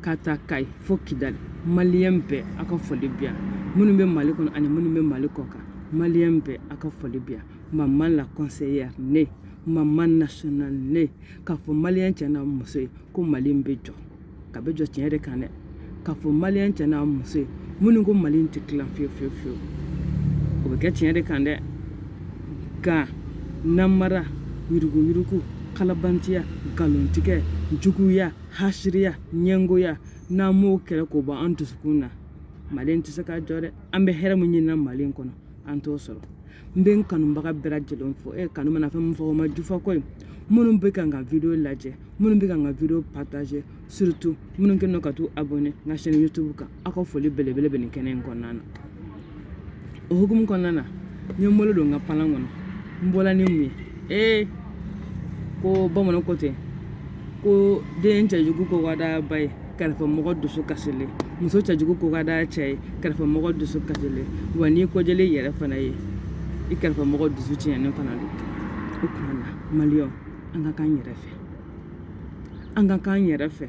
Ka taa kayi fo kidali maliyɛn bɛɛ aw ka foli bi yan minnu bɛ mali kɔnɔ ani minnu bɛ mali kɔ kan maliyɛn bɛɛ aw ka foli bi yan mama la conseillère ne mama nationale ne ka fɔ maliyɛn cɛ n'a muso ye ko mali bɛ jɔ k'a bɛ jɔ tiɲɛ de kan dɛ ka fɔ maliyɛn cɛ n'a muso ye minnu ko mali tɛ tila fiyewu fiyewu o bɛ kɛ tiɲɛ de kan dɛ ka namara yuruguyurugu kalabantiya nkalontigɛ juguya hasiriya ɲɛgoya n'an m'o kɛlɛ k'o bɔ an dusukun na mali tɛ se ka jɔ dɛ an bɛ hɛrɛ min ɲini na mali kɔnɔ an t'o sɔrɔ n bɛ n kanubaga bɛɛ lajɛlen fo e kanu mana fɛn min fɔ o ma jufa koyi minnu bɛ ka n ka video lajɛ minnu bɛ ka n ka video partager surtout minnu kɛlen don ka t'u abonner n ka chaîne youtube kan aw ka foli belebele bɛ nin kɛnɛ in kɔnɔna na o hukumu kɔnɔna na n ye n bolo don n ka palan kɔnɔ n bɔla ni mun ye ee ko bamananw ko ten ko den cɛjugu ko ka d'a ba ye kɛrɛfɛ mɔgɔ dusu kasilen muso cɛjugu ko ka d'a cɛ ye kɛrɛfɛ mɔgɔ dusu kasilen wa n'i kɔjɛlen yɛrɛ fana ye i kɛrɛfɛ mɔgɔ dusu tiɲɛnen fana don o tuma na maliyɛnw an ka k'an yɛrɛ fɛ an ka k'an yɛrɛ fɛ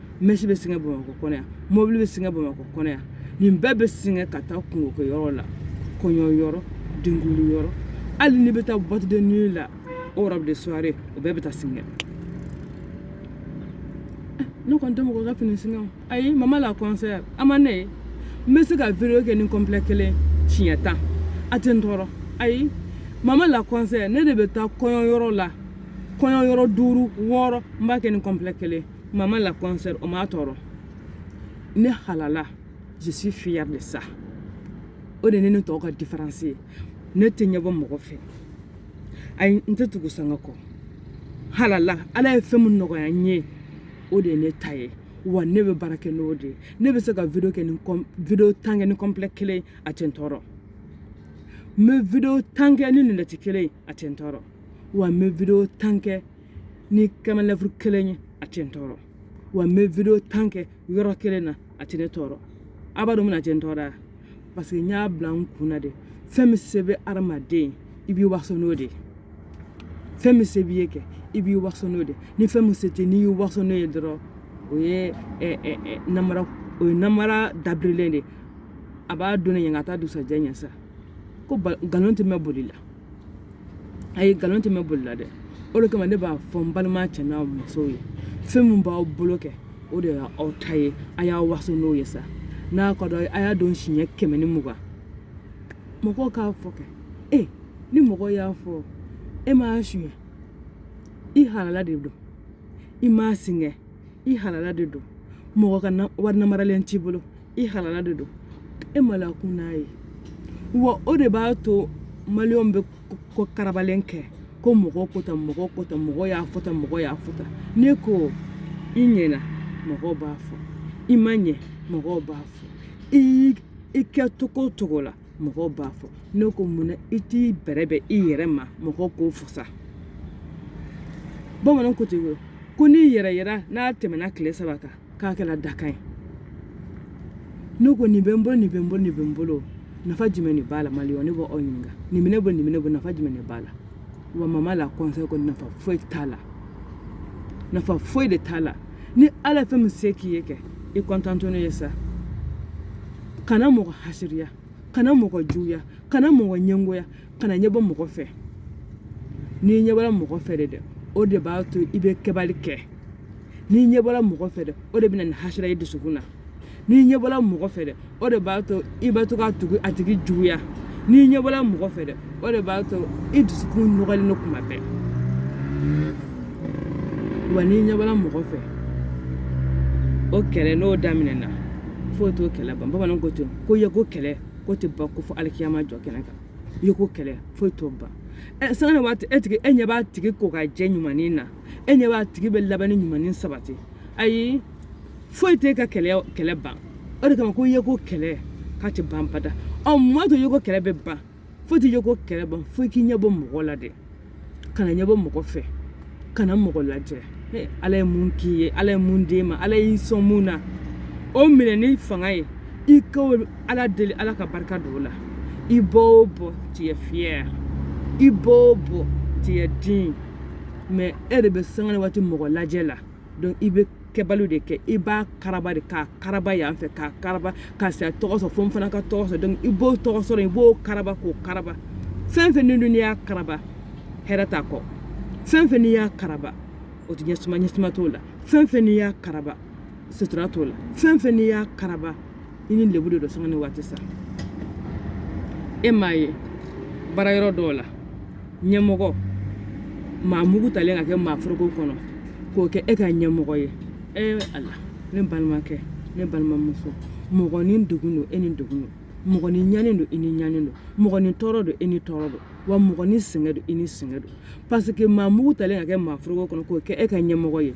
mɛsi bɛ singɛ bamakɔ kɔnɔ yan mɔbili bɛ singɛ bamakɔ kɔnɔ yan nin bɛɛ bɛ singɛ ka taa kunko kɛ yɔrɔ la kɔɲɔ yɔrɔ denkunli yɔrɔ hali n'i bɛ taa boîte de nuit la o robe de soirée o bɛɛ bɛ taa singɛ ne kɔni tɛ mɔgɔ ka fini singɛ ayi mama la conseillère a ma ne ye n bɛ se ka video kɛ ni complet kelen siɲɛ tan a tɛ n tɔɔrɔ ayi mama la conseillère ne de bɛ taa kɔɲɔ yɔrɔ la kɔɲɔ yɔrɔ duuru wɔɔrɔ n b'a kɛ ni complet kelen Mama la conseillère o m'a tɔɔrɔ ne halala je suis fière de ça o de ne ni tɔw ka différence ye ne tɛ ɲɛbɔ mɔgɔ fɛ ayi n tɛ tugu sanga kɔ halala ala ye fɛn min nɔgɔya n ye o de ye ne ta ye wa ne bɛ baara kɛ n'o de ye ne bɛ se ka video kɛ ni video tan kɛ ni complet kelen a tɛ n tɔɔrɔ n bɛ video tan kɛ ni lunɛti kelen a tɛ n tɔɔrɔ wa n bɛ video tan kɛ ni kɛmɛ lɛfuru kelen ye a tɛ n tɔɔrɔ wa n bɛ video tan kɛ yɔrɔ kelen na a tɛ ne tɔɔrɔ a b'a dɔn mun na a tɛ n tɔɔrɔ parce que n y'a bila n kun na de fɛn min se bɛ adamaden i b'i waso n'o de ye fɛn min se b'i ye kɛ i b'i waso n'o de ye ni fɛn min se tɛ n'i y'i waso n'o ye dɔrɔn o ye namara o ye namara dabirilen de ye a b'a dɔn ne ɲɛ ka taa dusajɛ ɲɛ sa ko nkalon tɛ mɛɛn boli la ayi nkalon tɛ mɛn boli la dɛ o de kama ne b'a fɔ n balima cɛ n'a musow ye fɛn min b'aw bolo kɛ o de y'aw ta ye a y'a waso n'o ye sa n'a ka dɔ a y'a don siɲɛ kɛmɛ ni mugan mɔgɔw k'a fɔ kɛ ni mɔgɔ y'a fɔ e m'a suɲɛ i halala de don i m'a singɛ i halala de don mɔgɔ ka wari namaralen t'i bolo i halala de don e maloyakun n'a ye wa o de b'a to maliyɛnw bɛ ko karabalen kɛ ko mɔgɔ ko tan mɔgɔ ko tan mɔgɔ y'a fɔ tan mɔgɔ y'a fɔ tan ne ko i ɲɛna mɔgɔ b'a fɔ i ma ɲɛ mɔgɔw b'a fɔ i kɛ cogo o cogo la mɔgɔw b'a fɔ ne ko mun na i t'i bɛrɛbɛn i yɛrɛ ma mɔgɔw k'o fasa bamananw ko ten ko ni yɛrɛyira n'a tɛmɛna tile saba kan k'a kɛra dakan ye ne ko nin bɛ n bolo nin bɛ n bolo nin bɛ n bolo nafa jumɛn de b'a la maliyɛnw ne b'aw ɲininka nin bɛ ne bolo nin bɛ ne bolo nafa jumɛn de b'a la wa maman la conseil ko nafa foyi t'a la nafa foyi de t'a la ni ala ye fɛn min se k'i ye kɛ i contenter n'o ye sa kana mɔgɔ hasiriya kana mɔgɔ juguya kana mɔgɔ ɲɛngoya kana ɲɛ bɔ mɔgɔ fɛ n'i ɲɛ bɔra mɔgɔ fɛ de dɛ o de b'a to i bɛ kɛbali kɛ n'i ɲɛ bɔra mɔgɔ fɛ dɛ o de bɛ na ni hasira y'i dusukun na n'i ɲɛ bɔra mɔgɔ fɛ dɛ o de b'a to i bɛ to ka tugu a tigi juguya n'i ɲɛ bɔra mɔgɔ fɛ dɛ o de b'a to i dusukun nɔgɔlen don kuma bɛɛ wa n'i ɲɛ bɔra mɔgɔ fɛ o kɛlɛ n'o daminɛna foyi t'o kɛlɛ ban bamananw ko ten ko yeko kɛlɛ k'o tɛ ban ko fo alikiyama jɔ kɛnɛ kan i yeko kɛlɛ foyi t'o ban sanga ni waati e tigi e ɲɛ b'a tigi ko ka jɛ ɲumanin na e ɲɛ b'a tigi bɛ labɛnni ɲumanin sabati ayi foyi t'e ka kɛlɛ ban o de kama ko i yeko kɛlɛ k'a tɛ ban bada mun b'a to i yeko kɛlɛ bɛ ban foyi tɛ i yeko kɛlɛ ban fo i k'i ɲɛ bɔ mɔgɔ la dɛ kana ɲɛ bɔ mɔgɔ fɛ kana mɔgɔ lajɛ ala ye mun k'i ye ala ye mun d'e ma ala y'i sɔn mun na o minɛ ni fanga ye i ka ala deli ala ka barika don o la i bɔ o bɔ tu es fier i bɔ o bɔ tu es digne mais e de bɛ sanga ni waati mɔgɔ lajɛ la donc i bɛ kɛbaliw de kɛ i b'a karaba de k'a karaba yan fɛ k'a karaba ka se ka tɔgɔ sɔrɔ fo n fana ka tɔgɔ sɔrɔ donc i b'o tɔgɔ sɔrɔ i b'o karaba k'o karaba fɛn fɛn n'i dun y'a karaba hɛrɛ t'a kɔ fɛn fɛn n'i y'a karaba o tɛ ɲɛ ɲɛsuma t'o la fɛn fɛn n'i y'a karaba sutura t'o la fɛn fɛn n'i y'a karaba i ni lebu de don sanga ni waati sa e m'a ye baara yɔrɔ dɔw la ɲɛmɔgɔ maa mugu talen ka kɛ maa foroko kɔnɔ k'o kɛ e ka ɲɛmɔgɔ ye e ala ne balimakɛ ne balimamuso mɔgɔ ni degun don e ni degun don mɔgɔ ni ɲani don i ni ɲani don mɔgɔ ni tɔɔrɔ don i ni tɔɔrɔ don wa mɔgɔ ni sɛgɛn don i ni sɛgɛn don parce que maa mugu talen ka kɛ maa foroko kɔnɔ k'o kɛ e ka ɲɛmɔgɔ ye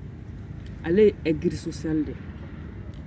ale ye aigri social de ye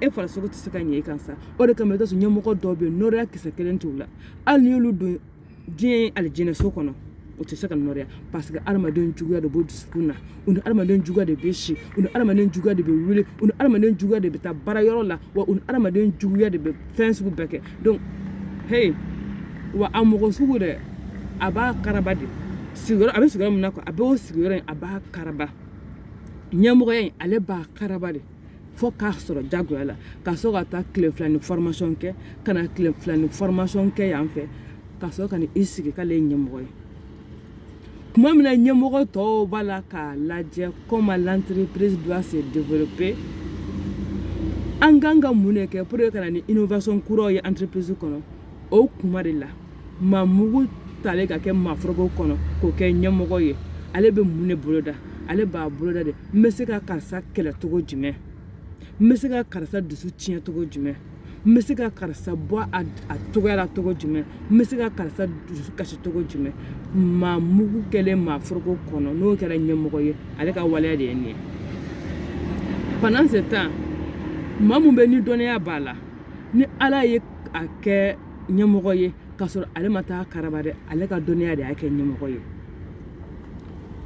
e farisogo tɛ se ka ɲɛ e kan sa o de kama i ka ɲɛmɔgɔ dɔw bɛ yen nɔrɔya kisɛ kelen t'u la hali n'i y'olu don diɲɛ alijinɛso kɔnɔ o tɛ se ka nɔrɔya parce que adamaden juguya de b'o dusukun na u ni adamaden juguya de bɛ si u ni adamaden juguya de bɛ wuli u ni adamaden juguya de bɛ taa baara yɔrɔ la wa u ni adamaden juguya de bɛ fɛn sugu bɛɛ kɛ donc hey wa a mɔgɔ sugu dɛ a b'a karaba de sigiyɔrɔ a bɛ sigiyɔrɔ min na quoi a b'o sigiyɔrɔ in a b'a karaba ɲɛmɔgɔya in ale b'a karaba de fo k'a sɔrɔ jagoya la ka sɔrɔ ka taa tile fila ni formation kɛ ka na tile fila ni formation kɛ yan fɛ ka sɔrɔ ka n'i sigi k'ale ye ɲɛmɔgɔ ye tuma min na ɲɛmɔgɔ tɔw b'a la k'a lajɛ comment l'entreprise doit se développer an kan ka mun de kɛ pour que ka na ni innovation kuraw ye entreprise kɔnɔ o kuma de la maa mugu talen ka kɛ maa foroko kɔnɔ k'o kɛ ɲɛmɔgɔ ye ale bɛ mun de boloda ale b'a boloda de n bɛ se ka karisa kɛlɛ cogo jumɛn n bɛ se ka karisa dusu tiɲɛ cogo jumɛn n bɛ se ka karisa bɔ a cogoya la cogo jumɛn n bɛ se ka karisa dusu kasi cogo jumɛn maa mugu kɛlen maa foroko kɔnɔ n'o kɛra ɲɛmɔgɔ ye ale ka waleya de ye nin ye pendant ce temps maa min bɛ ni dɔnniya b'a la ni ala ye a kɛ ɲɛmɔgɔ ye k'a sɔrɔ ale ma taa karaba dɛ ale ka dɔnniya de y'a kɛ ɲɛmɔgɔ ye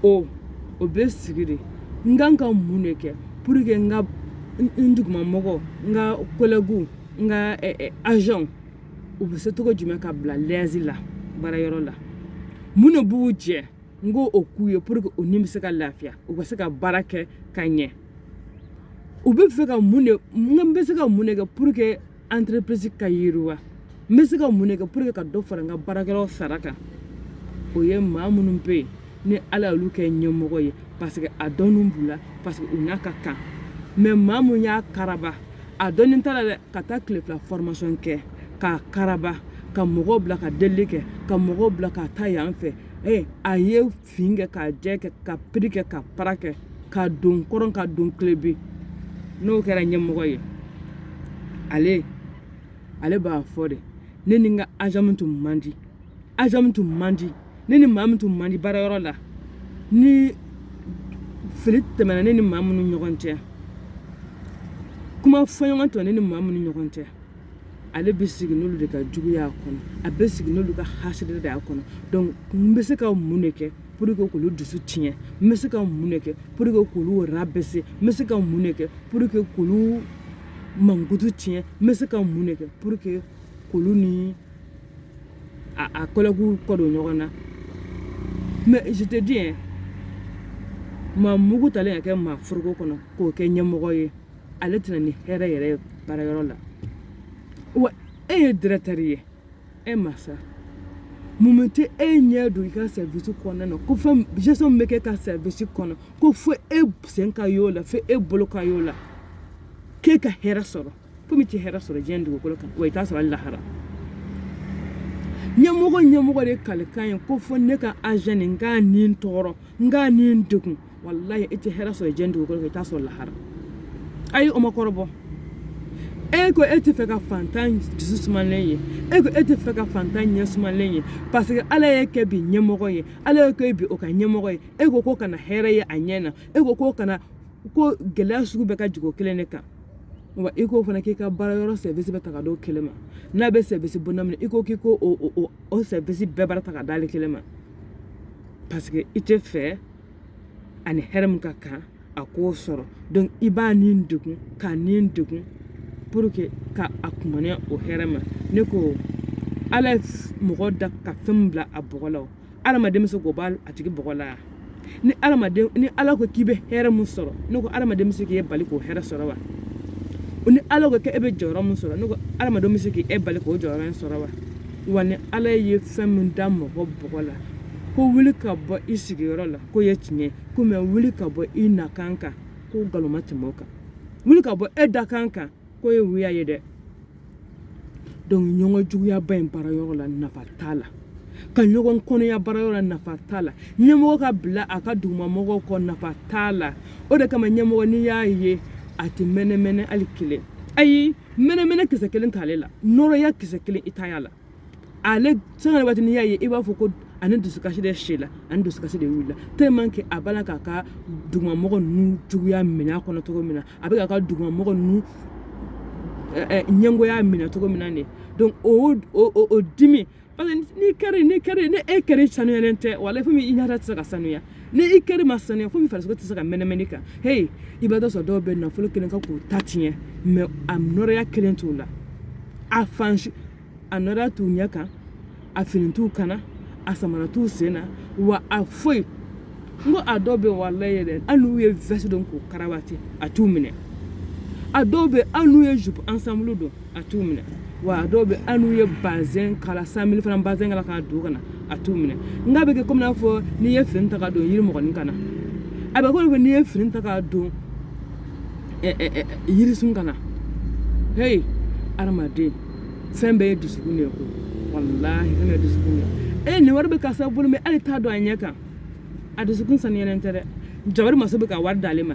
o o bɛ sigi de n kan ka mun de kɛ pour que n ka n dugumamɔgɔ n ka collègues n ka agents u bɛ se cogo jumɛn ka bila l'aise la baara yɔrɔ la mun de b'u jɛ n k'o k'u ye pour que u ni bɛ se ka lafiya u ka se ka baara kɛ ka ɲɛ u bɛ fɛ ka mun de n bɛ se ka mun de kɛ pour que entreprise ka yiriwa n bɛ se ka mun de kɛ pour que ka dɔ fara n ka baarakɛlaw sara kan o ye maa minnu bɛ yen ni ala y'olu kɛ ɲɛmɔgɔ ye parce que a dɔnni b'u la parce que u n'a ka kan mais maa min y'a karaba a dɔnni t'a la dɛ ka taa tile fila formation kɛ k'a karaba ka mɔgɔw bila ka deli kɛ ka mɔgɔw bila ka taa yan fɛ a ye fin kɛ k'a jɛ kɛ ka piri kɛ ka para kɛ ka don kɔrɔn ka don kilebin n'o kɛra ɲɛmɔgɔ ye ale ale b'a fɔ de ne ni n ka agent min tun man di agent min tun man di ne ni maa min tun man di baara yɔrɔ la ni fili tɛmɛna ne ni maa minnu ɲɔgɔn cɛ kuma fɔɲɔgɔn tɔ ne ni maa minnu ɲɔgɔn cɛ ale bɛ sigi n'olu de ka juguya kɔnɔ a bɛ sigi n'olu ka hasidiya kɔnɔ donc n bɛ se ka mun de kɛ pour que k'olu dusu tiɲɛ n bɛ se ka mun de kɛ pour que k'olu rabaisser n bɛ se ka mun de kɛ pour que k'olu mankutu tiɲɛ n bɛ se ka mun de kɛ pour que k'olu ni a collègues kɔ don ɲɔgɔn na mais je te dis maa mugu talen ka kɛ maa foroko kɔnɔ k'o kɛ ɲɛmɔgɔ ye ale tɛ na ni hɛrɛ yɛrɛ ye baara yɔrɔ la wa e ye directeur ye e masa mumɛ tɛ e ɲɛ don i ka service kɔnɔna na ko fɛn gestion min bɛ kɛ ka service kɔnɔ ko fo e sen ka y'o la fo e bolo ka y'o la k'e ka hɛrɛ sɔrɔ fo min tɛ hɛrɛ sɔrɔ diɲɛ dugukolo kan wa i t'a sɔrɔ hali lahara ɲɛmɔgɔ ɲɛmɔgɔ de kalikan ye ko fo ne ka agent nin n k'a ni tɔɔrɔ n k'a ni degun walayi i tɛ hɛrɛ sɔrɔ diɲɛ dugukolo kan i t'a sɔrɔ lahara ayi o ma kɔrɔbɔ e ko e tɛ fɛ ka fantan dusu sumalen ye e ko e tɛ fɛ ka fantan ɲɛ sumalen ye parce que ala y'e kɛ bi ɲɛmɔgɔ ye ala y'e kɛ bi o ka ɲɛmɔgɔ ye e ko k'o kana hɛrɛ ye a ɲɛ na e ko k'o kana ko gɛlɛya sugu bɛɛ ka jigin o kelen de kan wa i k'o fana k'i ka baara yɔrɔ service bɛɛ ta ka d'o kelen ma n'a bɛ service bonda min na i ko k'i ko o service bɛɛ baara ta ka d'ale kelen ma parce que i tɛ fɛ a ni hɛrɛ min ka kan a k'o sɔrɔ donc i b'a ni degun k'a ni degun pour que ka a kumaniya o hɛrɛ ma ne ko ala ye mɔgɔ da ka fɛn bila a bɔgɔ la adamaden bɛ se k'o bɔ a tigi bɔgɔ la ni ni ala ko k'i bɛ hɛrɛ min sɔrɔ ne ko adamaden bɛ se k'i bali k'o hɛrɛ sɔrɔ wa ni ala k'e bɛ jɔyɔrɔ min sɔrɔ ne ko adamaden bɛ se k'e bali k'o jɔyɔrɔ in sɔrɔ wa wa ni ala ye fɛn min da mɔgɔ bɔgɔ la ko wuli ka bɔ i sigiyɔrɔ la k'o ye tiɲɛ kuma ye wuli ka bɔ i nakan kan ko nkalon ma tɛmɛ o kan wuli ka bɔ e dakan kan k'o ye wuya ye dɛ donc ɲɔgɔn juguyaba in baara yɔrɔ la nafa t'a la ka ɲɔgɔn kɔniya baara yɔrɔ la nafa t'a la ɲɛmɔgɔ ka bila a ka dugumamɔgɔw kɔ nafa t'a la o de kama ɲɛmɔgɔ n'i y'a ye a tɛ mɛnɛmɛnɛ hali kelen ayi mɛnɛmɛnɛ kisɛ kelen t'ale la nɔrɔya kisɛ kelen i t'a la ale sanga waati n'i y'a ye i b'a fɔ ko a ni dusukasi de sila a ni dusukasi de wulila tellement que a b'a la k'a ka dugumamɔgɔ ninnu juguya minɛ a kɔnɔ cogo min na a bɛ k'a ka dugumamɔgɔ ninnu ɲɛngoya minɛ cogo min na de donc o o dimi parce que ni e cœur sanuyalen tɛ walayi fo min i ɲɛda tɛ se ka sanuya ni i cœur ma saniya fo min farisogo tɛ se ka mɛnɛmɛnɛ kan heyi i b'a dɔ sɔrɔ dɔw bɛ nafolo kelen kan k'u ta tiɲɛ mais a nɔrɔya kelen t'u la a fan a nɔrɔya t'u ɲɛ kan a fini t'u kan na a samara t'u sen na wa a foyi n ko a dɔw bɛ walayi yɛrɛ hali n'u ye veste don k'u karawati a t'u minɛ a dɔw bɛ hali n'u ye jupe ensemble don a t'u minɛ wa a dɔw bɛ hali n'u ye bazɛn kala cent mille fana bazɛn kala k'a don ka na a t'u minɛ n k'a bɛ kɛ komi n'a fɔ n'i ye fini ta k'a don yirimɔgɔnin kan na a bɛ komi n'i ye fini ta k'a don yirisun kan na heyi adamaden fɛn bɛɛ ye dusukun de ye ko walahi fɛn bɛɛ ye dusukun de ye e nin wari bɛ karisa bolo mais ale t'a dɔn a ɲɛ kan a dusukun saniyalen tɛ dɛ jabari masa bɛ ka wari d'ale ma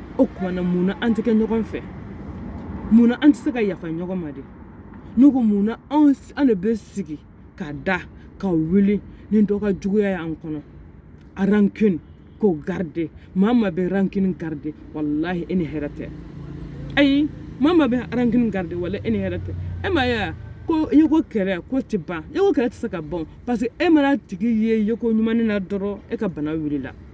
o tuma na mun na an tɛ kɛ ɲɔgɔn fɛ mun na an tɛ se ka yafa ɲɔgɔn ma de n ko mun na an de bɛ sigi ka da ka wuli ni dɔ ka juguya y'an kɔnɔ a rancune k'o garder maa ma bɛ rancune garder walahi e ni hɛrɛ tɛ ayi maa ma bɛ rancune garder wala e ni hɛrɛ tɛ e m'a ye ko i ko kɛlɛ ko tɛ ban e ko kɛlɛ tɛ se ka ban parce que e man'a tigi ye ye ko ɲuman na dɔrɔn e ka bana wulila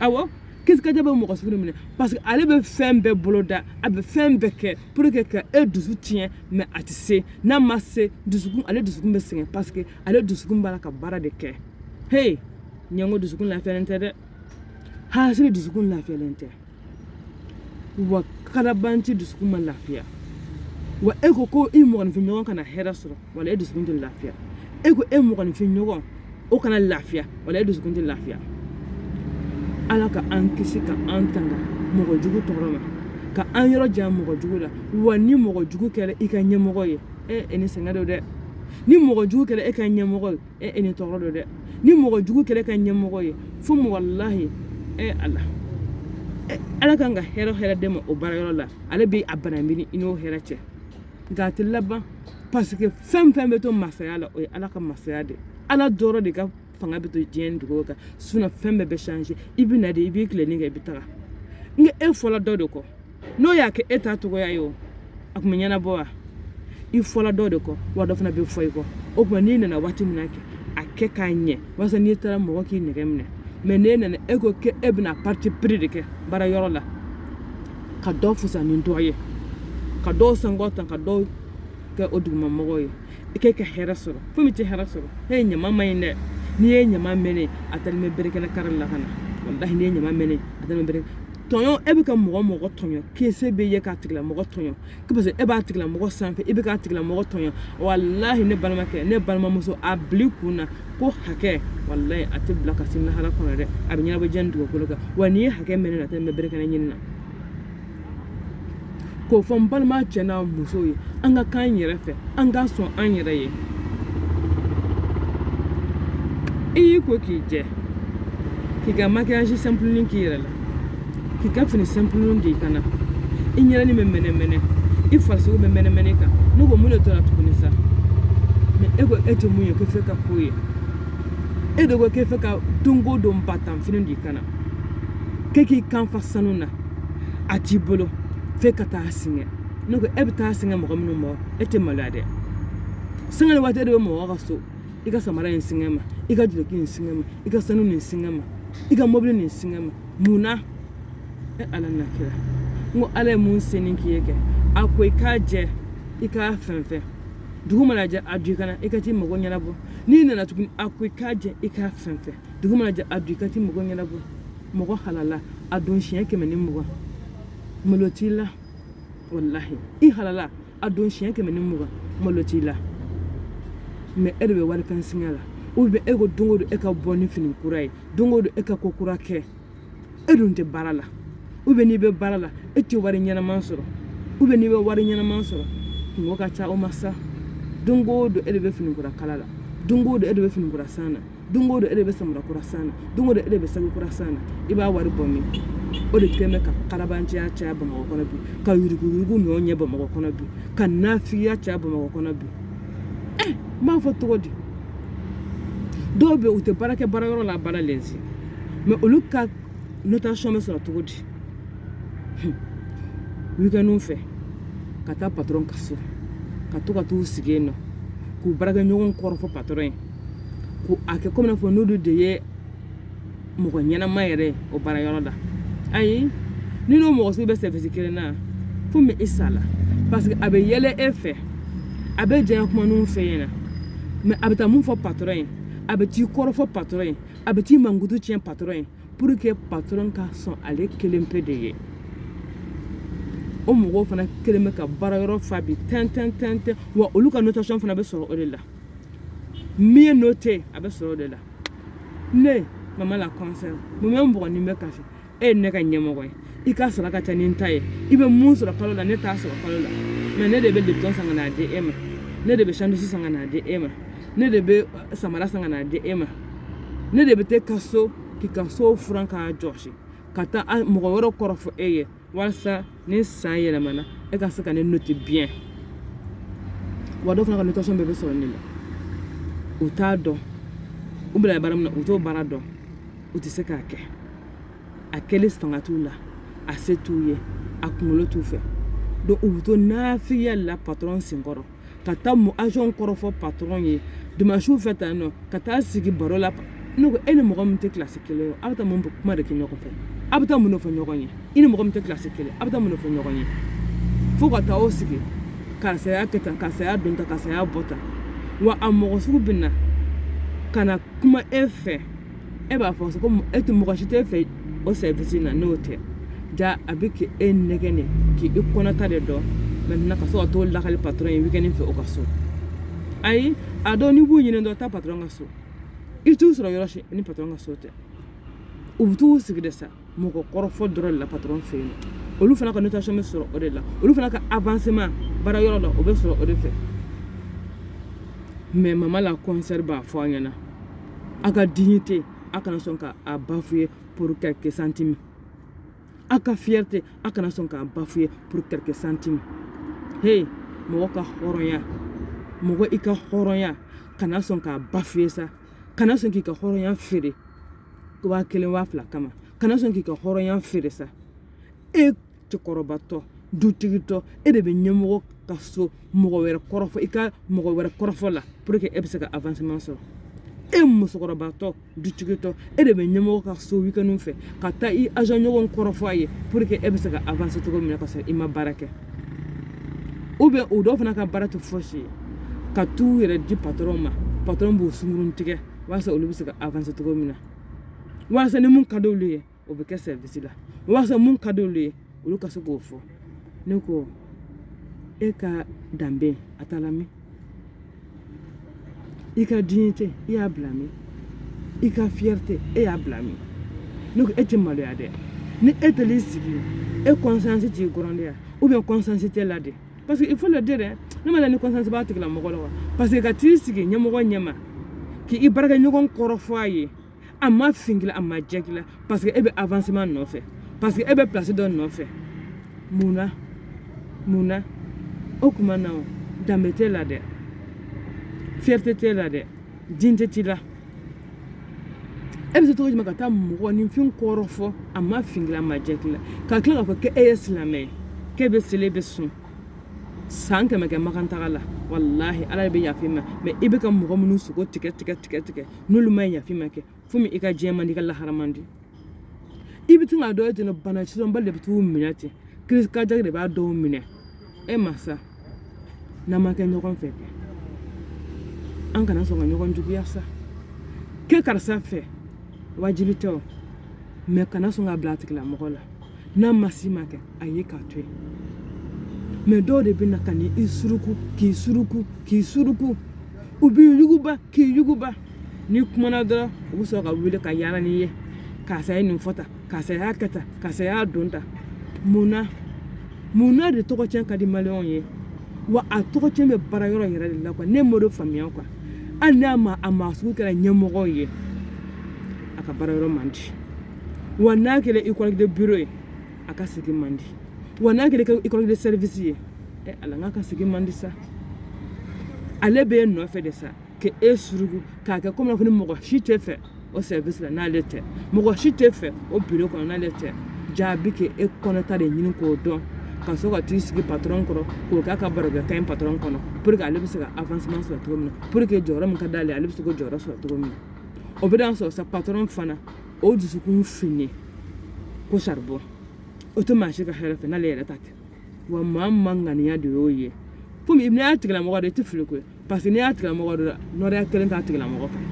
awɔ crise cardiaque b'o mɔgɔ sugu de minɛ parce que ale bɛ fɛn bɛɛ boloda a bɛ fɛn bɛɛ kɛ pour que ka e dusu tiɲɛ mais a tɛ se n'a ma se dusukun ale dusukun bɛ sɛgɛn parce que ale dusukun b'a la ka baara de kɛ hey ɲɛngo dusukun lafiyalen tɛ dɛ hasiri dusukun lafiyalen tɛ wa kalabanci dusukun ma lafiya wa e ko ko i mɔgɔninfin ɲɔgɔn kana hɛrɛ sɔrɔ wala e dusukun tɛ lafiya e ko e mɔgɔninfin ɲɔgɔn o kana lafiya wala e dusukun tɛ lafiya ala ka an kisi ka an tanga mɔgɔ jugu tɔɔrɔ ma ka an yɔrɔ jan mɔgɔ jugu la wa ni mɔgɔ jugu kɛra i ka ɲɛmɔgɔ ye e ni sɛgɛn don dɛ ni mɔgɔ jugu kɛra e ka ɲɛmɔgɔ ye e ni tɔɔrɔ don dɛ ni mɔgɔ jugu kɛra e ka ɲɛmɔgɔ ye fo walahi ala ala ka kan ka hɛrɛ hɛrɛ d'e ma o baarayɔrɔ la ale bɛ a balan bil'i n'o hɛrɛ cɛ nka a tɛ laban parce que fɛn fɛn bɛ to masaya la o ye ala ka masaya de ala dɔrɔn de ka fanga bɛ to diɲɛ dugu kan sinon fɛn bɛɛ bɛ changer i bɛ na de i b'i tilenin kɛ i bɛ taga nka e fɔla dɔ de kɔ n'o y'a kɛ e ta cogoya ye o a tun bɛ ɲɛnabɔ wa i fɔla dɔ de kɔ wa dɔ fana bɛ fɔ i kɔ o tuma n'i nana waati min na kɛ a kɛ k'a ɲɛ walasa n'i taara mɔgɔ k'i nɛgɛ minɛ mais n'e nana e ko k'e bɛna parti pris de kɛ baarayɔrɔ la ka dɔ fusaya ni dɔ ye ka dɔw sankɔrɔta ka dɔw kɛ o dugumamɔgɔw ye i k'e ka hɛrɛ sɔrɔ foyi i tɛ hɛrɛ sɔrɔ e ɲama man ɲi dɛ n'i ye ɲama mɛnɛ a t'ali mɛn berekɛnɛ kari la ka na walahi n'i ye ɲama mɛnɛ a t'ali mɛn berekɛ tɔɲɔ e bɛ ka mɔgɔ mɔgɔ tɔɲɔ ko se b'e ye k'a tigilamɔgɔ tɔɲɔ parce que e b'a tigilamɔgɔ sanfɛ e bɛ k'a tigilamɔgɔ tɔɲɔ walahi ne balimakɛ ne balimamuso a bil'i kun na ko hakɛ walahi a tɛ bila ka se lahara kɔnɔ dɛ a bɛ ɲɛnabɔ diɲɛ dugukolo kan wa n'i ye hakɛ mɛnɛ a tɛ mɛn berekɛnɛ ɲini na k'o fɔ n balima cɛ n'a muso ye an ka k'an yɛrɛ fɛ an ka sɔn an yɛrɛ ye i y'i ko k'i jɛ k'i ka makiyaji sanpuluni k'i yɛrɛ la k'i ka fini sanpuluni d'i kan na i ɲɛrɛni bɛ mɛnɛmɛnɛ i farisogo bɛ mɛnɛmɛnɛ kan ne ko mun de tora tuguni sa mɛ e ko e tɛ mun ye ko fɛ ka ko ye e de ko k'e fɛ ka don o don batanfini d'i kan na k'e k'i kan fa sanu na a t'i bolo f'e ka taa singa ne ko e bɛ taa singa mɔgɔ minnu ma e tɛ maloya dɛ singa waati e de bɛ mɔgɔ ka so i ka samara in singa n ma i ka duloki in singa n ma i ka sanu nin singa n ma i ka mɔbili nin singa n ma mun na e ala n'a kira n ko ala ye min senni k'i ye kɛ a ko i k'a jɛ i k'a fɛnsɛn dugu mana jɛ a don i kan na i ka t'i mago ɲɛnabɔ n'i nana tuguni a ko i k'a jɛ i k'a fɛnsɛn dugu mana jɛ a don i ka t'i mago ɲɛnabɔ mɔgɔ halala a don siɲɛ kɛmɛ ni mugan malo t'i la walahi i halala a don siɲɛ kɛmɛ ni mugan malo t'i la mɛ e de bɛ wali fɛn singa la ou bien e ko don o don e ka bɔ ni fini kura ye don o don e ka ko kura kɛ e dun tɛ baara la ou bien n'i bɛ baara la e tɛ wari ɲɛnama sɔrɔ ou bien n'i bɛ wari ɲɛnama sɔrɔ kunko ka ca o ma sa don o don e de bɛ fini kura kala la don o don e de bɛ fini kura san na don o don e de bɛ samara kura san na don o don e de bɛ sanu kura san na i b'a wari bɔ min o de kɛlen bɛ ka kalabanciya caya bamakɔ kɔnɔ bi ka yuruguyurugu ɲɔgɔn ɲɛ bamakɔ kɔnɔ bi ka nafigiya caya bamakɔ kɔnɔ bi ɛ n b'a fɔ cogo di dɔw bɛ u tɛ baara kɛ baara yɔrɔ la baara lɛnsi mɛ olu ka notation bɛ sɔrɔ cogo di wikɛndiw fɛ ka taa patɔrɔn ka so ka to ka t'u sigi yen nɔ k'u baarakɛɲɔgɔn kɔrɔfɔ patɔrɔn ye ko a kɛ komi n'a fɔ n'olu de ye mɔgɔ ɲɛnama yɛrɛ o baara yɔrɔ la ayi n'i n'o mɔgɔ sugu bɛ service kelen na fo min i sa la parce que a bɛ yɛlɛ e fɛ a bɛ diya kuma ninnu f'e ɲɛ na mɛ a bɛ taa mun fɔ patɔrɔn ye a bɛ t'i kɔrɔfɔ patɔrɔn ye a bɛ t'i mankutu tiɲɛ patɔrɔn ye pour que patɔrɔn ka sɔn ale kelen pe de ye o mɔgɔw fana kɛlen bɛ ka baara yɔrɔ fa bi tɛntɛn tɛntɛn wa olu ka notation fana bɛ sɔrɔ o de la min ye noté a bɛ sɔrɔ o de la ne mama la kɔnsɛ mun bɛ mɔgɔ ni bɛ kasi e ye ne ka ɲɛmɔgɔ ye i ka sɔrɔ ka ca ni n ta ye i bɛ mun sɔrɔ kalo la ne t'a sɔrɔ kalo la mɛ ne de bɛ lipton san ka n'a di e ma ne de bɛ sandwich san ka n'a di e ma ne de bɛ samara san ka n'a di e ma ne de bɛ t'e ka so k'i ka so furan k'a jɔsi ka taa mɔgɔ wɛrɛ kɔrɔfɔ e ye walasa ni san yɛlɛmana e ka se ka ne noter bien wa dɔ fana ka notation bɛɛ bɛ sɔrɔ ne la u t'a dɔn u bila baara min na u t'o baara dɔn u tɛ se k'a kɛ a kɛli fanga t'u la a se t'u ye a kunkolo t'u fɛ donc u bɛ to nafiya la patron senkɔrɔ ka taa mon agent kɔrɔfɔ patron ye dimanche fɛ tan nɔ ka taa sigi baro la ne ko e ni mɔgɔ min tɛ classe kelen ye aw bɛ taa mun kuma de kɛ ɲɔgɔn fɛ aw bɛ taa mun de fɔ ɲɔgɔn ye i ni mɔgɔ min tɛ classe kelen aw bɛ taa mun de fɔ ɲɔgɔn ye fo ka taa o sigi karisa y'a kɛ tan karisa y'a don tan karisa y'a bɔ tan wa a mɔgɔ sugu bɛ na ka na kuma e fɛ e b'a fɔ ko e tɛ mɔgɔ si t'e fɛ o service na n'o tɛ ja a bɛ ka e nɛgɛn de k'e kɔnɔta de dɔn maintenant ka sɔrɔ ka t'o lakali patron ye weekend fɛ o ka so ayi a dɔw n'i b'u ɲini dɔrɔn taa patron ka so i t'u sɔrɔ yɔrɔ si ni patron ka so tɛ u bɛ t'u sigi de sa mɔgɔ kɔrɔfɔ dɔrɔn de la patron fɛ yen olu fana ka notation bɛ sɔrɔ o de la olu fana ka avancement baara yɔrɔ la o bɛ sɔrɔ o de fɛ mais mama la concert b'a fɔ a ɲɛna a ka dignité a kana sɔn ka a bafouer pour quelques centimes a ka fierté a kana sɔn k'a bafouer pour quelques centimes hey mɔgɔ ka hɔrɔnya mɔgɔ i ka hɔrɔnya kana sɔn k'a bafouer sa kana sɔn k'i ka hɔrɔnya feere waa kelen waa fila kama kana sɔn k'i ka hɔrɔnya feere sa e cɛkɔrɔbatɔ dutigitɔ e de bɛ ɲɛmɔgɔ ka so mɔgɔ wɛrɛ kɔrɔfɔ i ka mɔgɔ wɛrɛ kɔrɔfɔ la pour que e bɛ se ka avancement sɔrɔ e musokɔrɔbatɔ dutigitɔ e de bɛ ɲɛmɔgɔ ka so weekend fɛ ka taa i agent ɲɔgɔn kɔrɔfɔ a ye pour que e bɛ se ka avancer cogo min na ka sɔrɔ i ma baara kɛ ou bien o dɔw fana ka baara tɛ fosi ye ka t'u yɛrɛ di patron ma patron b'u sungurutigɛ walasa olu bɛ se ka avancer cogo min na walasa ni mun ka di olu ye o bɛ kɛ service la walasa mun ka di olu ye olu ka se k'o fɔ ne ko e ka danbe a taara min i ka dignité i y'a bila min i ka fierté e y'a bila min ne ko e tɛ maloya dɛ ni e taara i sigi e conscience t'i gronder wa ou bien conscience t'e la de parce que il faut le dire dɛ ne m'a dɔn ni conscience b'a tigilamɔgɔ la wa parce que ka t'i sigi ɲɛmɔgɔ ɲɛma k'i baarakɛɲɔgɔn kɔrɔfɔ a ye a ma fin k'i la a ma jɛ k'i la parce que e bɛ avancement nɔfɛ parce que e bɛ place dɔ nɔfɛ mun na mun na o kuma na o danbe t'e la dɛ fierté t'e la dɛ dignité t'i la e bɛ se cogo jumɛn ka taa mɔgɔninfin kɔrɔfɔ a ma fin k'i la a ma jɛ k'i la ka tila k'a fɔ k'e ye silamɛ ye k'e bɛ seli bɛ sun san kɛmɛ kɛ makan taga la walahi ala bɛ yaf'i ma mais i bɛ ka mɔgɔ minnu sogo tigɛ tigɛ tigɛ tigɛ n'olu ma yaf'i ma kɛ fo min i ka diɲɛ man di i ka lahara man di i bɛ to k'a dɔn ten bana sidɔnbali de bɛ t'u minɛ ten crise cardiaque de b'a dɔw minɛ e masa n'an ma kɛ ɲɔgɔn fɛ an kana sɔn ka ɲɔgɔn juguya sa kɛ karisa fɛ wajibi tɛ o mais kana sɔn ka bila a tigilamɔgɔ la n'a ma si ma kɛ a ye k'a to yen mais dɔw de bɛ na ka ni i suruku k'i suruku k'i suruku u b'i yuguba k'i yuguba n'i kumana dɔrɔn u bɛ sɔrɔ ka wuli ka yaala n'i ye karisa ye nin fɔ tan karisa y'a kɛ tan karisa y'a don tan mun na de tɔgɔcɛn ka di maliyɛnw ye wa a tɔgɔcɛn bɛ baara yɔrɔ yɛrɛ de la quoi ne m'o de faamuya quoi hali n'a ma a maa sugu kɛra ɲɛmɔgɔ ye a ka baara yɔrɔ man di wa n'a kɛra i collègue de bureau ye a ka sigi man di wa n'a kɛra i collègue de service ye ala n'a ka sigi man di sa ale bɛ e nɔfɛ de sa ka e suruku k'a kɛ comme ko ni mɔgɔ si t'i fɛ o service la n'ale tɛ mɔgɔ si t'i fɛ o bureau kɔnɔ n'ale tɛ jaa a bɛ k'e kɔnɔta de ɲini k'o dɔn ka sɔrɔ ka t'i sigi patron kɔrɔ k'o k'a ka barokɛta ye patron kɔnɔ pour que ale bɛ se ka avancement sɔrɔ cogo min na pour que jɔyɔrɔ min ka d'ale ale ale bɛ se k'o jɔyɔrɔ sɔrɔ cogo min na o bɛ sɔrɔ sa patron fana o dusukun fin i ko charbon o tɛ maa si ka hɛrɛ fɛ n'ale yɛrɛ ta tɛ wa maa man ŋaniya de y'o ye komi n'i y'a tigilamɔgɔ de i tɛ fili koyi parce que n'i y'a tigilamɔgɔ dɔ la nɔrɔya kelen t'a tigilamɔgɔ kan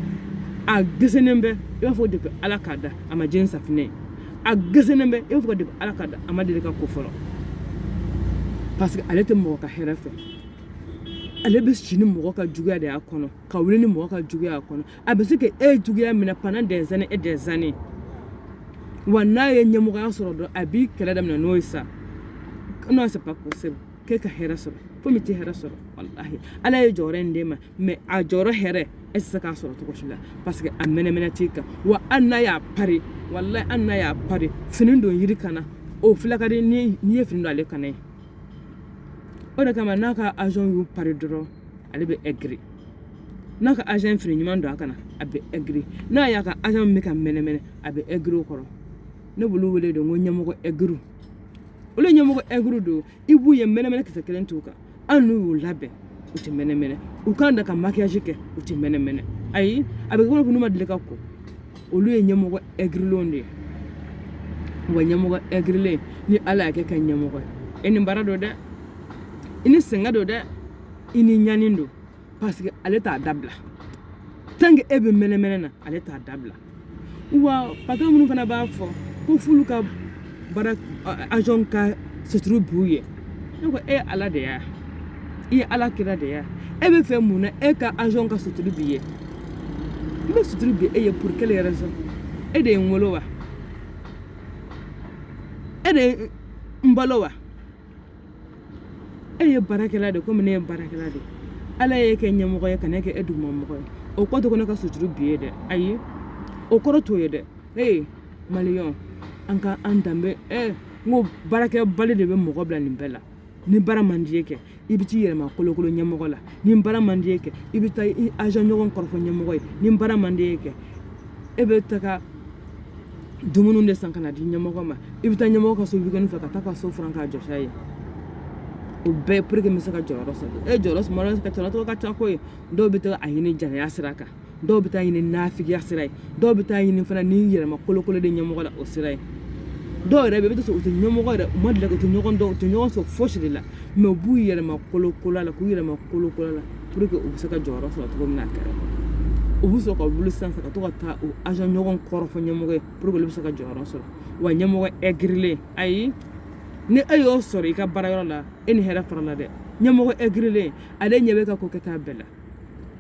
a gesennen bɛ i b'a fɔ depuis ala k'a da a ma jɛn safinɛ ye a gesennen bɛ i b'a fɔ depuis ala k'a da a ma deli ka ko fɔlɔ parce que ale tɛ mɔgɔ ka hɛrɛ fɛ ale bɛ si ni mɔgɔ ka juguya de y'a kɔnɔ ka wuli ni mɔgɔ ka juguya y'a kɔnɔ a bɛ se ka e juguya minɛ pendant des années et des années wa n'a ye ɲɛmɔgɔya sɔrɔ dɔrɔn a b'i kɛlɛ daminɛ n'o ye sa non c'est pas possible k'e ka hɛrɛ sɔrɔ komi tɛ hɛrɛ sɔrɔ walahi ala ye jɔyɔrɔ in d'e ma mais a jɔyɔrɔ hɛrɛ e tɛ se k'a sɔrɔ cogo si la parce que a mɛnɛmɛnɛ t'i kan wa hali n'a y'a pari walahi hali n'a y'a pari fini don yiri kan na o filɛ ka di n'i ye fini don ale kan na ye o de kama n'a ka agent y'u pari dɔrɔn ale bɛ aigri n'a ka agent fini ɲuman don a kan na a bɛ aigri n'a y'a ka agent bɛ ka mɛnɛmɛnɛ a bɛ aigri o kɔrɔ ne b'olu wele de ko ɲɛmɔgɔ aigriw olu ɲɛmɔgɔ aigriw don i b'u ye mɛnɛmɛnɛ kisɛ kelen t'u kan hali n'u y'u labɛn u tɛ mɛnɛmɛnɛ u kan da ka maquillage kɛ u tɛ mɛnɛmɛnɛ ayi a bɛ kɛ ko n'u ma deli ka ko olu ye ɲɛmɔgɔ aigrilenw de ye wa ɲɛmɔgɔ aigrilen ni ala y'a k'e ka ɲɛmɔgɔ ye e ni baara don dɛ i ni sɛgɛn don dɛ i ni ɲani don parce que ale t'a dabila tant que e bɛ mɛnɛmɛnɛ na ale t'a dabila wa patron minnu fana b'a fɔ ko f'olu ka baara agent ka suturu b'u ye ne ko e ala de y'a i ye ala kira de y'a e b'a fɛ mun na e ka agent ka suturu b'i ye n bɛ suturu bi e ye pour quelle raison e de ye n wolo wa e de ye n balo wa e ye baarakɛla de komi ne ye baarakɛla de ala y'e kɛ ɲɛmɔgɔ ye ka ne kɛ e dugumamɔgɔ ye o kɔrɔ tɛ ko ne ka suturu b'i ye dɛ ayi o kɔrɔ t'o ye dɛ ee maliyɛn an ka an danbe ɛ n ko baarakɛbali de bɛ mɔgɔ bila nin bɛɛ la ni baara man d'i ye kɛ i bɛ t'i yɛrɛ makolokolo ɲɛmɔgɔ la ni baara man d'i ye kɛ i bɛ taa i agent ɲɔgɔn kɔrɔfɔ ɲɛmɔgɔ ye ni baara man d'i ye kɛ e bɛ taga dumuni de san ka n'a di ɲɛmɔgɔ ma i bɛ taa ɲɛmɔgɔ ka so weekend fɛ ka taa a ka so furan k'a jɔsi a ye o bɛɛ pour que n bɛ se ka jɔyɔrɔ sɔrɔ e jɔyɔrɔ sɔrɔ ka cɛlɔtɔ ka ca ko ye dɔw bɛ taa a ɲini jɛnɛya sira kan dɔw bɛ taa a ɲini nafigiya sira ye dɔw bɛ taa a ɲini fana ni yɛrɛ makolokolo de ɲɛmɔgɔ la o sira ye dɔw yɛrɛ bɛ i bɛ t'a sɔrɔ u tɛ ɲɛmɔgɔ yɛrɛ u ma deli ka u tɛ ɲɔgɔn dɔn u tɛ ɲɔgɔn sɔrɔ fosi de la mais u b'u yɛrɛ makolokolo a la k'u yɛrɛ makolokolo a la pour que u bɛ se ka jɔyɔrɔ sɔrɔ cogo min na kɛrɛ u bɛ sɔrɔ ka wuli sisan ka to ka taa u agent ɲɔgɔn kɔrɔfɔ ɲɛmɔgɔ ye pour que olu bɛ se ka jɔyɔrɔ sɔrɔ wa ɲɛmɔgɔ aigrilen ayi ni e y'o sɔrɔ i ka baarayɔrɔ la e ni hɛrɛ farala dɛ ɲɛmɔgɔ aigrilen ale ɲɛ b'e ka ko kɛta bɛɛ la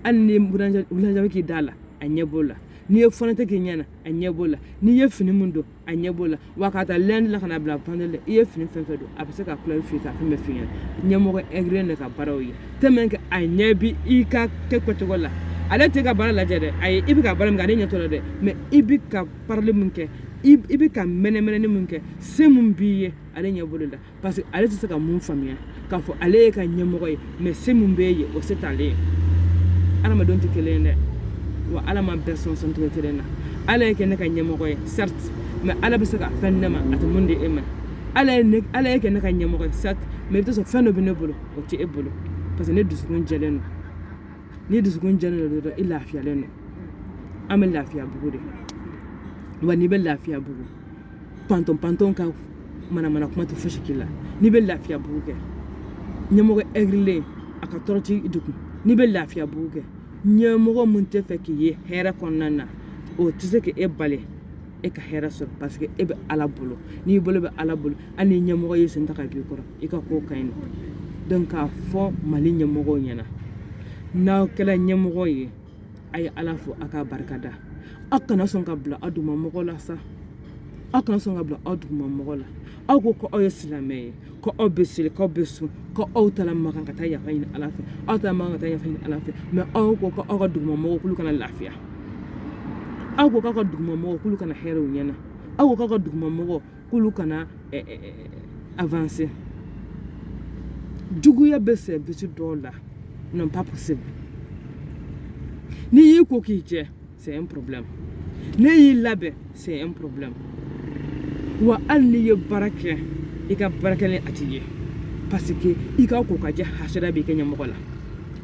hali n'i ye rouge à lèvres k'i da la a ɲɛ b'o la n'i ye fond de teint k'i ɲɛ na a ɲɛ b'o la n'i ye fini min don a ɲɛ b'o la wa k'a ta lundi la ka n'a bila vendredi la i ye fini fɛn o fɛn don a bɛ se k'a couleur f'i k'a fɛn bɛɛ f'i ɲɛna ɲɛmɔgɔ aigrilen de ka baaraw ye tellement que a ɲɛ b'i ka ko kɛcogo la ale t'e ka baara lajɛ dɛ ayi i bɛ ka baara min kɛ ale ɲɛ t'o la dɛ mais i bɛ ka parili min kɛ i bɛ ka mɛnɛmɛnɛli min kɛ se min b'i ye ale ɲɛ b'olu la parce que ale tɛ se ka min faamuya k'a fɔ ale y'e ka ɲɛmɔgɔ ye mais se min b'e ye o se t'ale ye adamadenw tɛ kelen ye dɛ wa ala ma bɛɛ sɔn sɔn cogo kelen na ala y'e kɛ ne ka ɲɛmɔgɔ ye certes mais ala bɛ se ka fɛn di ne ma a tɛ min di e ma ala ye ne ala y'e kɛ ne ka ɲɛmɔgɔ ye certes mais i bɛ t'a sɔrɔ fɛn dɔ bɛ ne bolo o tɛ e bolo parce que ne dusukun jɛlen don ni dusukun jɛlen don dɔrɔn i lafiyalen don an bɛ lafiya bugu de wa n'i bɛ lafiya bugu patron ka manamana kuma tɛ fosi k'i la n'i bɛ lafiya bugu kɛ ɲɛmɔgɔ aigrilen a ka tɔɔrɔ t'i degun n'i bɛ lafiya bugu kɛ ɲɛmɔgɔ min t'a fɛ k'i ye hɛrɛ kɔnɔna na o tɛ se k'e bali e ka hɛrɛ sɔrɔ parce que e bɛ ala bolo n'i bolo bɛ ala bolo hali ni ɲɛmɔgɔ y'i sen ta ka b'i kɔrɔ i ka ko ka ɲi donc k'a fɔ mali ɲɛmɔgɔw ɲɛna n'aw kɛra ɲɛmɔgɔ ye a ye ala fo a k'a barikada aw kana sɔn ka bila aw dugumamɔgɔ la sa aw kana sɔn ka bila aw dugumamɔgɔ la aw ko ko aw ye silamɛ ye ko aw bɛ seli k'aw bɛ sun ko aw taara makan ka taa yafa ɲini ala fɛ aw taara makan ka taa yafa ɲini ala fɛ mais aw ko ko aw ka dugumamɔgɔw k'olu kana lafiya aw ko k'aw ka dugumamɔgɔw k'olu kana hɛrɛ u ɲɛna aw ko k'aw ka dugumamɔgɔw k'olu kana eh, eh, eh, avancer juguya bɛ service dɔw la non pas possible n'i y'i ko k'i jɛ c'est un problème n'i y'i labɛn c'est un problème wa hali n'i ye baara kɛ i ka baara kɛlen a t'i ye parce que i ka ko ka jɛ hasida b'i ka ɲɛmɔgɔ la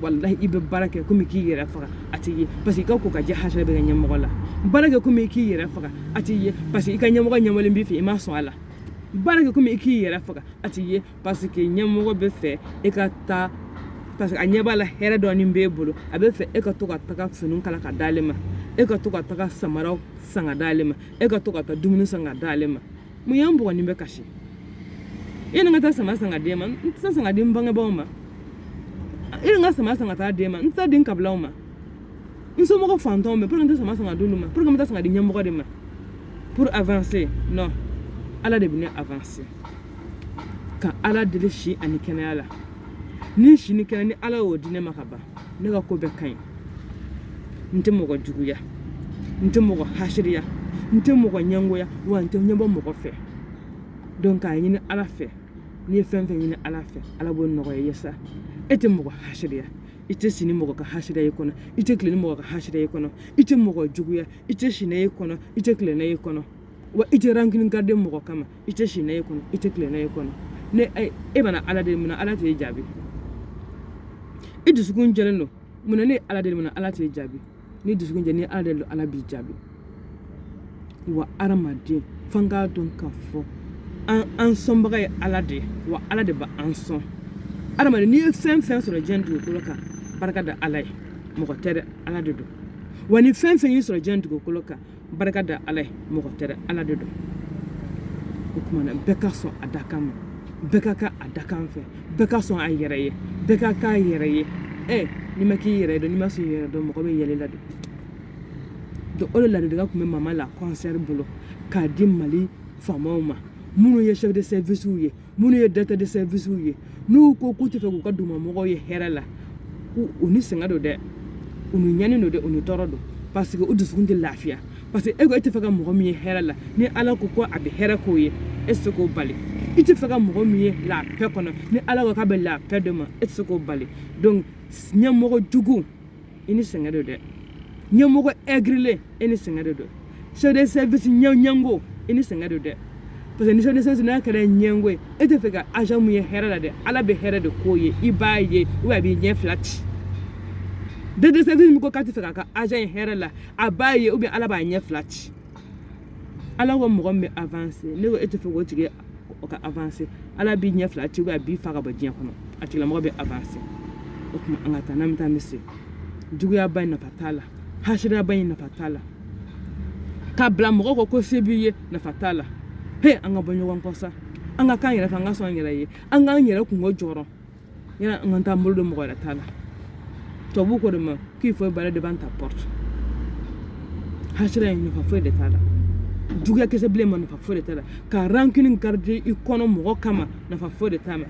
walahi i bɛ baara kɛ komi k'i yɛrɛ faga a t'i ye parce que i ka ko ka jɛ hasida b'i ka ɲɛmɔgɔ la baara kɛ komi k'i yɛrɛ faga a t'i ye parce que i ka ɲɛmɔgɔ ɲɛbɔlen b'i fɛ i ma sɔn a la baara kɛ komi i k'i yɛrɛ faga a t'i ye parce que ɲɛmɔgɔ bɛ fɛ e ka taa parce que a ɲɛ b'a la hɛrɛ dɔɔni b'e bolo a bɛ fɛ e ka to ka taga finiw kala ka d'ale ma e ka to ka taga samaraw san ka d'ale ma e ka to ka taa dumuni san ka d'ale ma mun y'an bɔgɔ ni bɛ kasi yani n ka taa sama san ka d'e ma n tɛ taa san ka di n bangebaaw ma yani n ka sama san ka taa d'e ma n tɛ taa di n kabilaw ma n somɔgɔ fantanw mais pour que n tɛ sama san ka d'olu ma pour que n bɛ taa san ka di ɲɛmɔgɔ de ma pour avancer non ala de bɛ ne avancer ka ala deli si ani kɛnɛya la ni si ni kɛnɛ ni ala y'o di ne ma ka ban ne ka ko bɛɛ ka ɲi n tɛ mɔgɔ juguya n tɛ mɔgɔ hasiriya n tɛ mɔgɔ ɲɛngoya wa n tɛ ɲɛbɔ mɔgɔ fɛ donc k'a ɲini ala fɛ n'i ye fɛn fɛn ɲini ala fɛ ala b'o nɔgɔya i ye sa e tɛ mɔgɔ hasiriya i tɛ si ni mɔgɔ ka hasida y'i kɔnɔ i tɛ tilen ni mɔgɔ ka hasida y'i kɔnɔ i tɛ mɔgɔ juguya i tɛ si n'a y'i kɔnɔ i tɛ tilen n'a y'i kɔnɔ wa i tɛ rancune garder mɔgɔ kama i tɛ si n'a y'i kɔnɔ i tɛ tilen n'a y'i kɔnɔ n'e bɛna ala deli munna ala t'e jaabi e dusukun jɛlen don munna n'e y'ala deli munna ala t'e jaabi n'i dusukun jɛ n'i y'ala deli ala b'i jaabi wa adamaden f'an k'a dɔn k'a fɔ an sɔnbaga ye ala de ye wa ala de b'an sɔn adamaden n'i ye fɛn fɛn sɔrɔ diɲɛ dugukolo kan barika da ala ye mɔgɔ tɛ dɛ ala de don wa ni fɛn fɛn y'i sɔrɔ diɲɛ dugukolo kan barika da ala ye mɔgɔ tɛ dɛ ala de don o tuma na bɛɛ ka sɔn a dakan ma bɛɛ ka k'a dakan fɛ bɛɛ ka sɔn a yɛrɛ ye bɛɛ ka k'a yɛrɛ ye ɛ n'i ma k'i yɛrɛ dɔn n'i ma sɔn i yɛrɛ dɔn mɔgɔ bɛ yɛlɛ i la dɛ donc o de ladilikan tun bɛ mama la kɔnsɛri bolo k'a di mali faamaw ma minnu ye chef de servicew ye minnu ye directeur de servicew ye n'u ko k'u tɛ fɛ k'u ka dugumamɔgɔ ye hɛrɛ la u ni sɛgɛn don dɛ u ni ɲani don dɛ u ni tɔɔrɔ don parce que u dusukun tɛ lafiya parce que e ko e tɛ fɛ ka mɔgɔ min ye hɛrɛ la ni ala ko ko a bɛ hɛrɛ k'o ye e tɛ se k'o bali i tɛ fɛ ka mɔgɔ min ye la paix kɔnɔ ni ala ko k'a bɛ la paix d'a ma e tɛ se k'o bali donc ɲɛmɔgɔ jugu i ni sɛgɛn don dɛ ɲɛmɔgɔ aigrilen e ni sɛgɛn de don chef de service ɲɛngo i ni sɛgɛn don dɛ parce que ni chef de service n'a kɛra ɲɛngo ye e tɛ fɛ ka agent min ye hɛrɛ la dɛ ala bɛ hɛrɛ de k'o ye i b'a ye ou a b'i ɲɛ fila ci chef de service min ko k'a tɛ fɛ k'a ka agent ye hɛrɛ la a b'a ye ou bien ala b'a ɲɛ fila ci ala ko mɔgɔ min bɛ avancer ne ko e tɛ fɛ k'o tigi o ka avancer ala b'i ɲɛ fila ci a b'i fa ka bɔ diɲɛ kɔnɔ a tigilamɔgɔ bɛ avancer o tuma an ka taa n'an bɛ taa misiri juguyaba in nafa t'a la hasiriyaba in nafa t'a la ka bila mɔgɔ kɔ ko se b'i ye nafa t'a la he an ka bɔ ɲɔgɔn kɔ sa an ka k'an yɛrɛ fɛ an ka sɔn an yɛrɛ ye an k'an yɛrɛ kungo jɔrɔ yanni an ka taa an bolo don mɔgɔ wɛrɛ ta la tubabu ko de ma k'il faut balayer devant ta porte hasiriya nafa foyi de t'a la juguya kisɛ bilenman nafa foyi de t'a la ka rancune garder i kɔnɔ mɔgɔ kama nafa foyi de t'a ma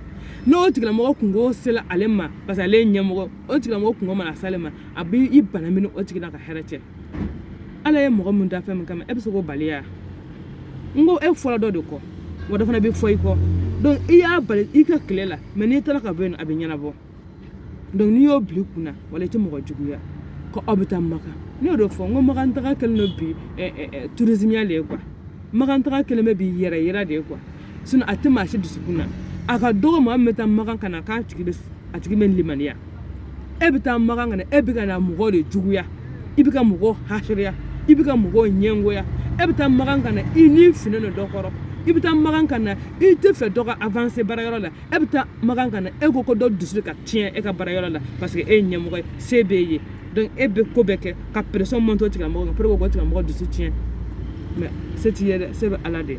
n'o tigilamɔgɔ kungo sela ale ma parce que ale ye ɲɛmɔgɔ o tigilamɔgɔ kungo mana s'ale ma a bɛ i banamini o tigi la ka hɛrɛ cɛ ala ye mɔgɔ min da fɛn min kama e bɛ se k'o bali ya n ko e fɔra dɔ de kɔ wa dɔ fana bɛ fɔ i kɔ donc i y'a bali i ka tile la mais n'i taara ka bɔ yen a bɛ ɲɛnabɔ donc n'i y'o bila i kunna wala i tɛ mɔgɔ juguya ko aw bɛ taa makan ne y'o de fɔ n ko makan taga kɛlen don bi tourismeya de ye quoi makan taga kɛlen bɛ bi yɛrɛ yira de ye quoi sinon a tɛ maa si dusukun na a ka dɔgɔ maa min bɛ taa makan ka na k'a tigi bɛ a tigi bɛ limaniya e bɛ taa makan ka na e bɛ ka na mɔgɔw de juguya i bɛ ka mɔgɔw hasiriya i bɛ ka mɔgɔw ɲɛngoya e bɛ taa makan ka na i ni finen don dɔ kɔrɔ i bɛ taa makan ka na i tɛ fɛ dɔ ka avancer baarayɔrɔ la e bɛ taa makan ka na e ko ko dɔ dusu ka tiɲɛ e ka baarayɔrɔ la parce que e ye ɲɛmɔgɔ ye se b'e ye donc e bɛ ko bɛɛ kɛ ka pression monter o tigilamɔgɔ kan pour que k'o tigilamɔgɔ dusu tiɲɛ mais se t'i ye dɛ se bɛ ala de ye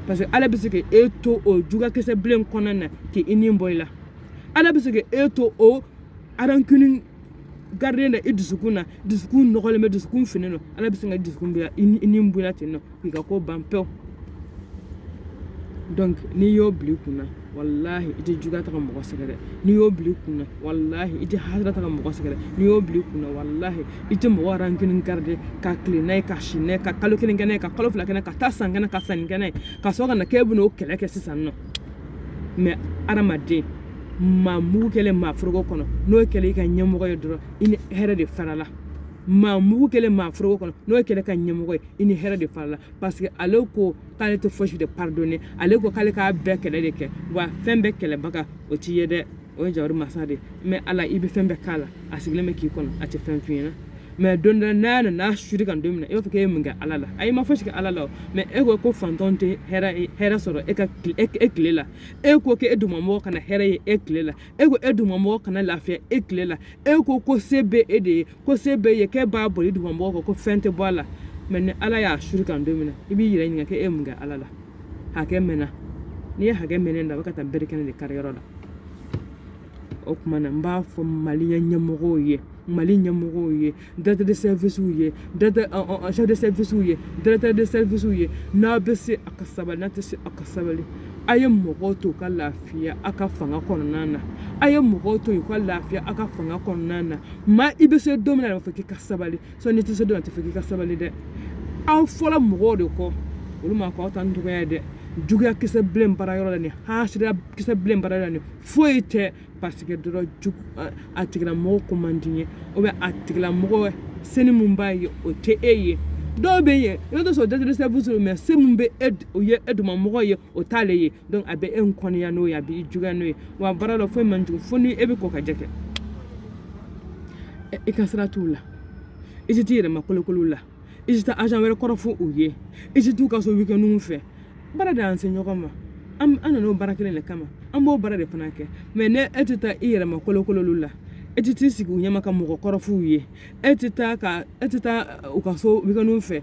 parce que ala bɛ se ka e to o juguya kisɛ bilen kɔnɔna na k'i i ni bɔ i la ala bɛ se ka e to o rancune garder in na i dusukun na dusukun nɔgɔlen bɛ dusukun finen don ala bɛ se ka dusukun bila i ni bɔ i la ten nɔ k'i ka ko ban pewu donc n'i y'o bila i kun na walahi i tɛ juguya ta ka mɔgɔ sɛgɛrɛ n'i y'o bila i kunna walahi i tɛ hasiriya ta ka mɔgɔ sɛgɛrɛ n'i y'o bila i kunna walahi i tɛ mɔgɔ rancune garder ka tile n'a ye ka si n'a ye ka kalo kelen kɛ n'a ye ka kalo fila kɛ n'a ye ka taa san kɛnɛ ka sanni kɛ n'a ye ka sɔrɔ ka na k'e bɛna o kɛlɛ kɛ sisan non mais adamaden maa mugu kɛlen maa foroko kɔnɔ n'o kɛlen i ka ɲɛmɔgɔ ye dɔrɔn i ni hɛrɛ de farala maa mugu kɛlen maa foroko kɔnɔ n'o kɛlen ka ɲɛmɔgɔ ye i ni hɛrɛ de farala parce que ale ko k'ale tɛ fosi de pardonner ale ko k'ale k'a bɛɛ kɛlɛ de kɛ wa fɛn bɛɛ kɛlɛbaga o t'i ye dɛ o ye jawari masa de mais ala i bɛ fɛn bɛɛ k'a la a sigilen bɛ k'i kɔnɔ a tɛ fɛn f'i ɲɛna mais don dɔ n'a nana suri kan don min na e b'a fɔ k'e ye mun kɛ ala la ayi i ma fosi kɛ ala la o mais e ko ko faantan tɛ hɛrɛ hɛrɛ sɔrɔ e ka e tile la e ko k'e dugumamɔgɔ kana hɛrɛ ye e tile la e ko e dugumamɔgɔ kana lafiya e tile la e ko ko se bɛ e de ye ko se b'e ye k'e b'a boli dugumamɔgɔw kan ko fɛn tɛ bɔ a la mais ni ala y'a suru kan don min na i b'i yɛrɛ ɲininka k'e ye mun kɛ ala la hakɛ mɛnna n'i ye hakɛ mɛnɛ da a bɛ ka taa bere kɛnɛ de kari yɔrɔ la o tuma na n b'a fɔ mali ɲɛmɔgɔw ye mali ɲɛmɔgɔw ye directeur de servicew ye chef de servicew ye directeur de servicew ye n'a bɛ se a ka sabali n'a tɛ se a ka sabali a ye mɔgɔw to ka lafiya a ka fanga kɔnɔna na a ye mɔgɔw to yen u ka lafiya a ka fanga kɔnɔna na maa i bɛ se don min na a bɛ fɔ k'i ka sabali sinon i tɛ se don a tɛ fɔ k'i ka sabali dɛ aw fɔla mɔgɔw de kɔ olu ma ko aw ta dɔgɔya dɛ juguya kisɛ bilen baarayɔrɔ la ni hasidiya kisɛ bilen baara la ni foyi tɛ parce que dɔrɔn jugu a tigila mɔgɔ ko man d'i ye ou bien a tigila mɔgɔ senin mun b'a ye o tɛ e ye dɔw bɛ yen i bɛ t'a sɔrɔ directeur de service mais se mun bɛ e o ye e dugumamɔgɔ ye o t'ale ye donc a bɛ e kɔniya n'o ye a b'i juguya n'o ye wa baara la foyi man jugu fo ni e bɛ kɔ ka jɛ kɛ i ka sira t'u la i tɛ t'i yɛrɛ makolokolo u la i tɛ taa agent wɛrɛ kɔrɔfɔ u ye i tɛ t'u ka so weekendw fɛ baara de y'an se ɲɔgɔn ma an an nan'o baara kelen de kama an b'o baara de fana kɛ mais ni e tɛ taa i yɛrɛ makolokolo olu la e tɛ t'i sigi u ɲɛma ka mɔgɔ kɔrɔf'u ye e tɛ taa ka e tɛ taa u ka so weekendw fɛ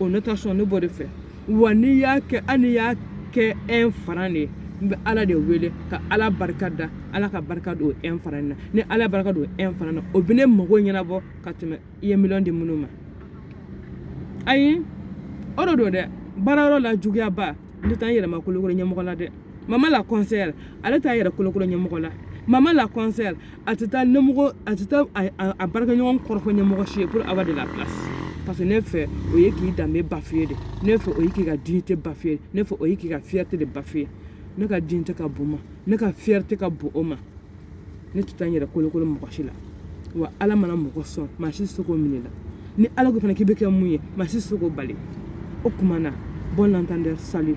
o ne ta sɔn ne b'o de fɛ wa n'i y'a kɛ hali n'i y'a kɛ un franc de ye n bɛ ala de wele ka ala barika da ala ka barika don un franc in na ni ala barika don un franc na o bɛ ne mago ɲɛnabɔ ka tɛmɛ i ye miliyɔn di minnu ma ayi o de don dɛ baarayɔrɔ la juguyaba ne tɛ taa n yɛrɛ makolokolo ɲɛmɔgɔ la dɛ mama la conseillère ale t'a yɛrɛ kolokolo ɲɛmɔgɔ la mama la conseillère a tɛ taa ɲɛmɔgɔ a tɛ taa a baarakɛɲɔgɔn kɔrɔfɔ ɲɛmɔgɔ si ye pour avoir de la place parce que ne fɛ o ye k'i danbe bafouer de ne fɛ o ye k'i ka dignité bafouer ne fɛ o ye k'i ka fierté de bafouer ne ka dignité ka bon o ma ne ka fierté ka bon o ma ne tɛ taa n yɛrɛ kolokolo mɔgɔ si la wa ala mana mɔgɔ sɔn maa si tɛ se k'o minɛ a la ni ala ko fana k'i bɛ kɛ mun ye maa si tɛ se k'o bali o tuma na bon entendeur salut